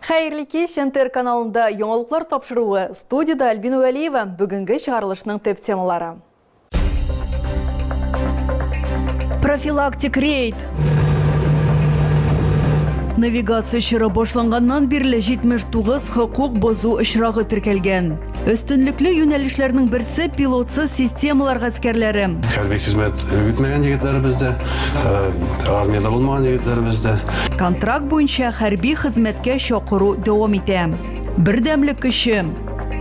Хәерле кич, НТР каналында яңалыклар тапшыруы. Студида Альбина Вәлиева. Бүгенге чыгарылышның төп темалары. Профилактик рейд. Навигация чоры башланганнан бирле 79 хокук бозу очрагы теркәлгән. Өстенлекле юнәлешләрнең берсе пилотсыз системалар гаскәрләре. Хәрби хезмәт үтмәгән егетләребез дә, э, армиядә булмаган егетләребез дә. Контракт буенча хәрби хезмәткә чакыру дәвам итә. Бердәмлек көче.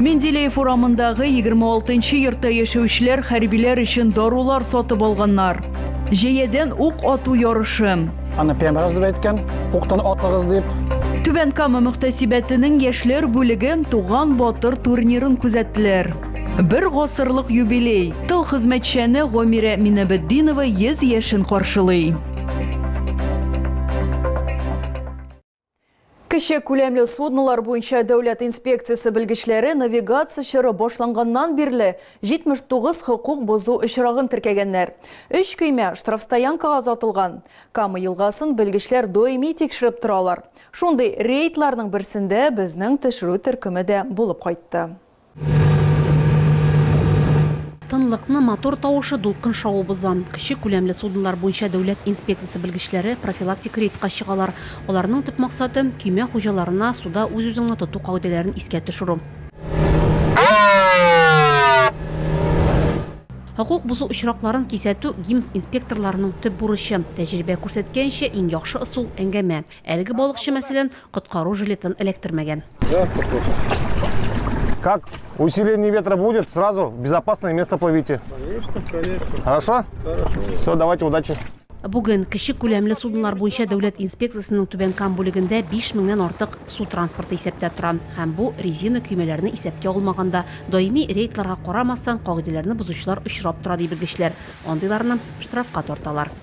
Менделеев урамындагы 26 йортта яшәүчеләр хәрбиләр өчен дарулар сатып алганнар. Җәядән ук ату ярышы. Аны пембраз дип әйткән, уктан атыгыз дип. Түбән Кама мөхтәсибәтенең яшьләр бүлеге Туган батыр турнирын күзәттеләр. Бер гасырлык юбилей. Тыл хезмәтчәне Гомирә Минабетдинова 100 яшен каршылый. Кече күләмле суднолар буенча дәүләт инспекциясе белгечләре навигация чоры башланганнан бирле 79 хокук бозу очрагын теркәгәннәр. Өч көймә штрафстоянкага озатылган. Кама елгасын белгечләр даими тикшереп торалар. Шундый рейдларның берсендә безнең төшерү төркеме дә булып кайтты. Тынлыкны мотор тавышы, дулкын шавы боза. Кече күләмле суднолар буенча дәүләт инспекциясе белгечләре профилактик рейдка чыгалар. Аларның төп максаты, көймә хуҗаларына суда үз-үзеңне тоту кагыйдәләрен искә төшерү. Хокук бозу очракларын кисәтү, ГИМС инспекторларының төп бурычы. Тәҗрибә күрсәткәнчә, иң яхшы ысул, әңгәмә. Әлеге балыкчы, мәсәлән, Коткару жилетын эләктермәгән. Как усиление ветра будет, сразу в безопасное место плывите. Конечно, конечно. Хорошо? Хорошо. Все, давайте, удачи. Бүген кече күләмле суднолар буенча дәүләт инспекциясенең Түбән Кам бүлегендә 5000 меңнән артык су транспорты исәптә тора. Һәм бу резина көймәләрне исәпкә алмаганда, даими рейдларга карамастан, кагыйдәләрне бозучылар очрап тора, ди белгечләр. Андыйларны штрафка тарталар.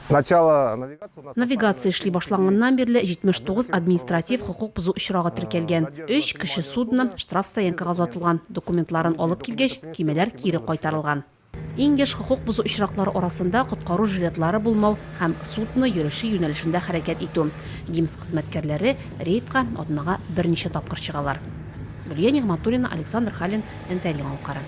Навигация эшли башланганнан бирле 79 административ хокук бозу очрагы теркәлгән. Өч кеше судно штрафстоянкага озатылган, документларын алып килгәч, көймәләр кире кайтарылган. Иң еш хокук бозу очраклары арасында коткару жилетлары булмау һәм судно йөреше юнәлешендә хәрәкәт итү. ГИМС хезмәткәрләре рейдка атнага берничә тапкыр чыгалар. Гөлия Нигъмәтуллина, Александр Халин, НТН яңалыклары.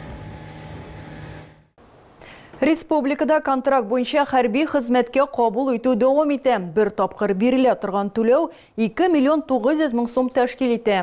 Республикада контракт буенча хәрби хезмәткә кабул итү дәвам итә. Бер тапкыр бирелә торган түләү 2 миллион 900 мең сум тәшкил итә.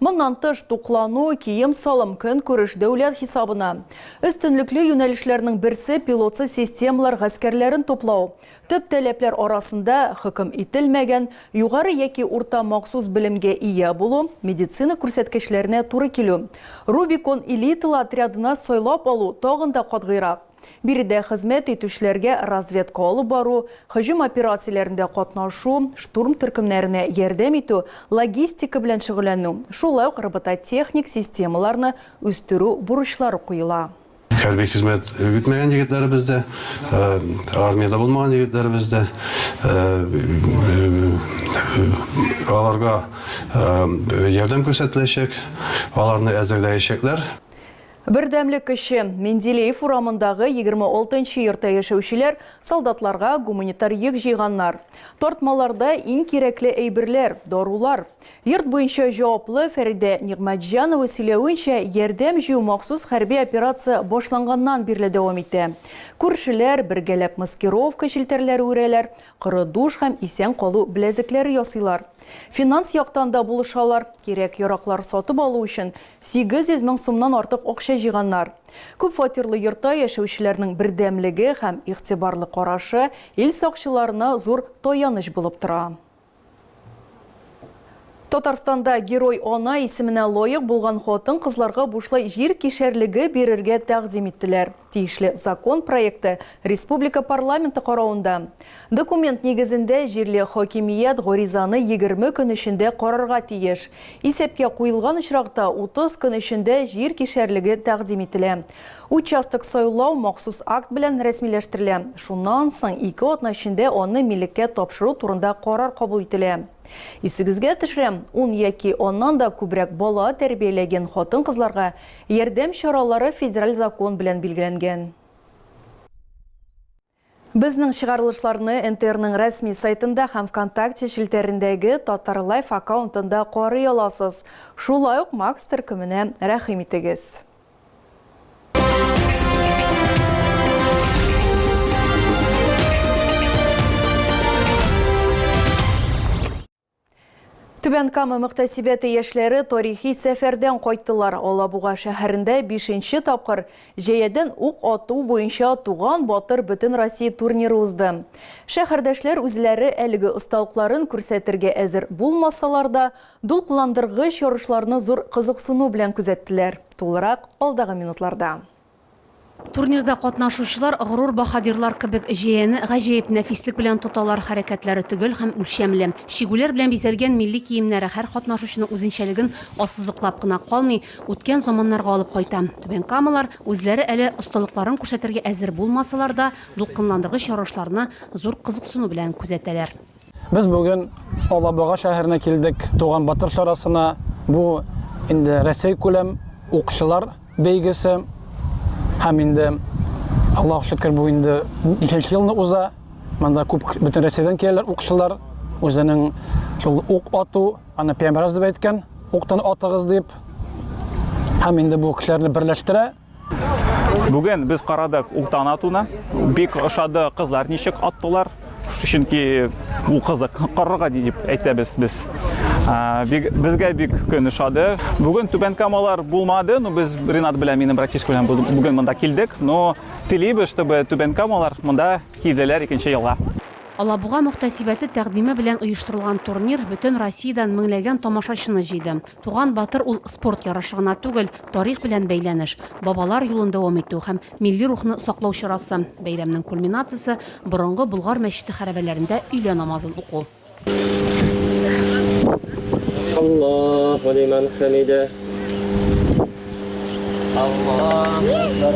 Моннан тыш, туклану, кием-салым, көнкүреш дәүләт хисабына. Өстенлекле юнәлешләрнең берсе, пилотсыз системалар гаскәрләрен туплау. Төп таләпләр арасында, хөкем ителмәгән, югары яки урта махсус белемгә ия булу, медицина күрсәткечләренә туры килү. Рубикон элиталы отрядына сайлап алу тагын да катгыйрак. Биредә хезмәт итүчеләргә разведка алып бару, һөҗүм операцияләрендә катнашу, штурм төркемнәренә ярдәм итү, логистика белән шөгыльләнү, шулай ук робототехник системаларны үстерү бурычлары куела. Хәрби хезмәт үтмәгән егетләребез дә, армиядә булмаган егетләребез дә, аларга ярдәм күрсәтеләчәк, аларны әзерләячәкләр. Бердәмлек көче, Менделеев урамындагы 26 нчы йортта яшәүчеләр солдатларга гуманитар йөк җыйганнар. Тартмаларда иң кирәкле әйберләр, дарулар. Йорт буенча җаваплы Фәридә Нигъмәтҗанова сөйләвенчә, ярдәм җыю махсус хәрби операция башланганнан бирле дәвам итә. Күршеләр бергәләп маскировка челтәрләре үрәләр, коры душ һәм исән калу беләзекләре ясыйлар. Финанс яктан да булышалар, кирәк-яраклар сатып алу өчен 800 мең сумнан артык акча җыйганнар. Күпфатирлы йортта яшәүчеләрнең бердәмлеге һәм игътибарлы карашы ил сакчыларына зур таяныч булып тора. Татарстанда Герой-ана исеменә лаек булган хатын-кызларга бушлай җир кишәрлеге бирергә тәкъдим иттеләр. Тиешле закон проекты республика парламенты каравында. Документ нигезендә җирле хакимият гаризаны егерме көн эчендә карарга тиеш. Исәпкә куелган очракта, утыз көн эчендә җир кишәрлеге тәкъдим ителә. Участок сайлау махсус акт белән рәсмиләштерелә, шуннан соң ике атна эчендә аны милеккә тапшыру турында карар кабул ителә. Исегезгә төшерәм, ун яки аннан да күбрәк бала тәрбияләген хатын-кызларга ярдәм чаралары федераль закон белән билгеләнгән. Безнең чыгарылышларны НТРның рәсми сайтында һәм Вконтакте челтәрендәге Татар Лайф аккаунтында карый аласыз. Шулай ук Макс төркеменә рәхим итегез. Түбән Кама мөхтәсибәте яшьләре тарихи сәфәрдән кайттылар. Алабуга шәһәрендә бишенче тапкыр җәядән ук ату буенча Туган батыр бөтенроссия турниры узды. Шәһәрдәшләр үзләре әлеге осталыкларын күрсәтергә әзер булмасалар да, дулкынландыргыч ярышларны зур кызыксыну белән күзәттеләр. Тулырак алдагы минутларда. Турнирда катнашучылар горур баһадирлар кебек җәяне гаҗәеп нәфислек белән тоталар, хәрәкәтләре төгәл һәм үлчәмле. Чигүләр белән бизәлгән милли киемнәре һәр катнашучының үзенчәлеген ассызыклап кына калмый, үткән заманнарга алып кайта. Түбәнкамалар, үзләре әле осталыкларын күрсәтергә әзер булмасалар да, дулкынландыргыч ярышларны зур кызыксыну белән күзәтәләр. Без бүген Алабуга шәһәренә килдек, Туган батыр чарасына. Бу инде Рәсәй күләм укчылар бәйгесе. Һәм инде Аллаһ шөкер бу инде ничәнче елны уза. Монда күп бөтен Рәсәйдән киләләр укчылар. Үзенең шул ук ату, аны пәйгамбәребез дип әйткән, уктан атыгыз дип. Һәм инде бу кешеләрне берләштерә. Бүген без карадык Ултан атуны. Бик ошады кызлар ничек аттылар. Чөнки ул кызык карарга дип әйтәбез без. Безгә бик көн ошады. Бүген түбән камалар булмады, но без Ренат белән минем братишка белән бүген монда килдек, но телибез, чтобы түбән камалар монда килделәр икенче елга. Алабуга мөхтәсибәте тәкъдиме белән оештырылган турнир бөтен Россиядән меңләгән тамашачыны җыйды. Туган батыр ул спорт ярышы гына түгел, тарих белән бәйләнеш, бабалар юлын дәвам итү һәм милли рухны саклау чарасы. Бәйрәмнең кульминациясе, борынгы Болгар мәчете хәрабәләрендә өйлә намазын уку. Аллаһу лиман хәмидә. Аллаһу әкбәр.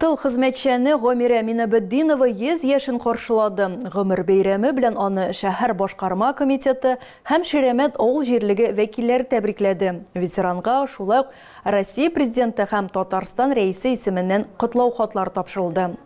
Тыл хезмәтчәне Гомирә Минабетдинова 100 яшен каршылады. Гомер бәйрәме белән аны шәһәр башкарма комитеты һәм Ширәмәт авыл җирлеге вәкилләре тәбрикләде. Ветеранга шулай ук Россия Президенты һәм Татарстан Рәисе исеменнән котлау хатлары тапшырылды.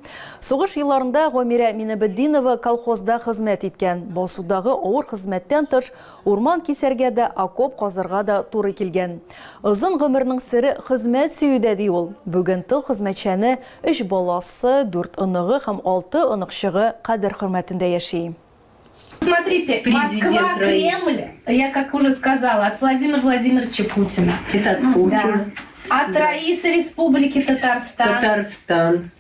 Сугыш елларында Гомирә Минабетдинова колхозда хезмәт иткән. Басудагы авыр хезмәттән тыш, Урман кисәргә дә, окоп казырга да туры килгән. Озын гомернең сере хезмәт сөюдә, ди ул. Бүген тыл хезмәтчәне өч баласы, дүрт оныгы һәм алты оныкчыгы кадер-хөрмәтендә яши. Смотрите, Москва, Кремль, я как уже сказала, от Владимира Владимировича Путина. Это от Путина. Да. От Раисы Республики Татарстан. Татарстан.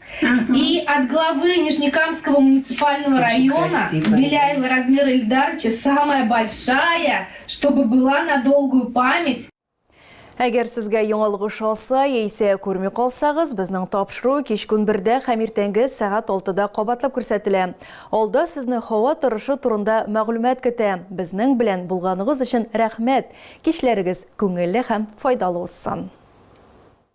И от главы Нижнекамского муниципального Очень района красиво. Беляева Радмира Ильдаровича самая большая, чтобы была на долгую память. Әгәр сезгә яңалгыш алса, яисә күрми калсагыз, безнең тапшыру кич көн бердә һәм иртәнге сәгать 6-да кабатлап күрсәтелә. Алда сезне һава торышы турында мәгълүмат көтә. Безнең белән булганыгыз өчен рәхмәт. Кичләрегез күңелле һәм файдалы узсын.